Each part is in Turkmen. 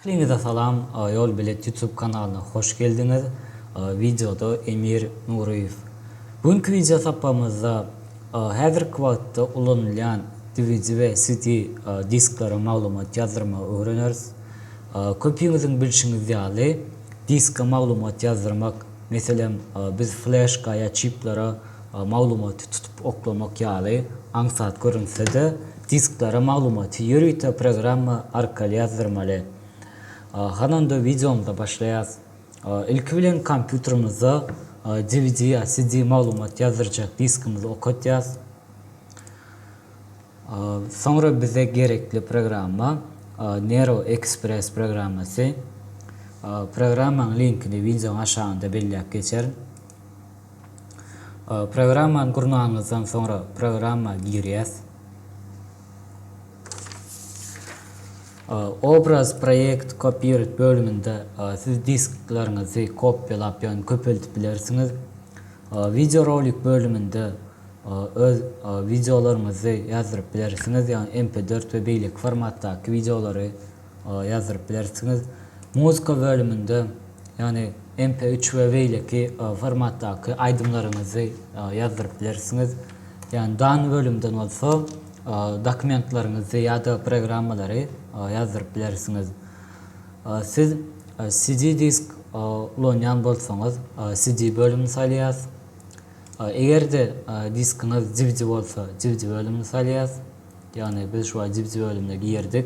Hemmäňize salam, Ýol bilet YouTube kanalyna hoş geldiňiz. Wideoda Emir Nuryýew. Bu günki wideo sapamyzda häzirki wagtda ulanylýan DVD we CD disklere maglumat ýazdyrmagy öwreneris. Köpiňiziň bilşiňiz ýaly, diska maglumat ýazdyrmak, meselem, biz fleşka ýa çiplara maglumaty tutup oklamak ýaly aňsat görünse-de, disklere maglumaty ýörite programma arkaly ýazdyrmaly. Hany onda wideomyza başlaýas. Ilki bilen kompýuterimizde dvd ýa CD maglumat ýazdyrjak diskimizi okatýas. Soňra bize gerekli programma Nero Express programmasy. Programmanyň linkini wideonyň aşagynda belläp geçerin. Programmany gurnanyňyzdan soňra programma girýäs. Obraz proýekt kopiýret bölüminde siz disklaryňyzy kopýalap ýagny köpeldip bilersiňiz. Wideo rolik bölüminde öz wideolaryňyzy ýazdyryp bilersiňiz ýagny MP dört we beýleki formatdaky wideolary. ýazdyryp bilersiňiz. Muzka bölüminde, ýagny MP üç we beýleki formatdaky aýdymlaryňyzy ýazdyryp bilersiňiz. Ýagny dan bölümden bolsa dokumentlaryňyzy ýa-da programmalary ýazdyryp bilersiňiz. Siz CD disk ulanýan bolsaňyz, CD bölümini salýas. Eger-de diskiňiz dvd bolsa, dvd bölümini salýas. Ýagny biz şu wagt dvd bölümine girdik.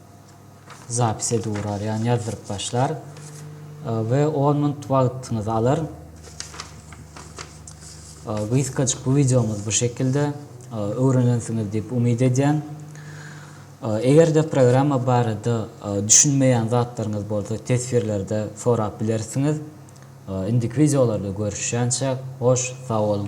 zapis edip urar, ýagny ýazdyryp başlar we on minut wagtyňyzy alar. Gysgajyk bu wideomyz bu şekilde öwrenensiňiz diýip umyt edýän. Eger-de programma barada düşünmeýän zatlaryňyz bolsa teswirlerde sorap bilersiňiz. Indiki wideolarda görüşýänçäk, hoş sag boluň!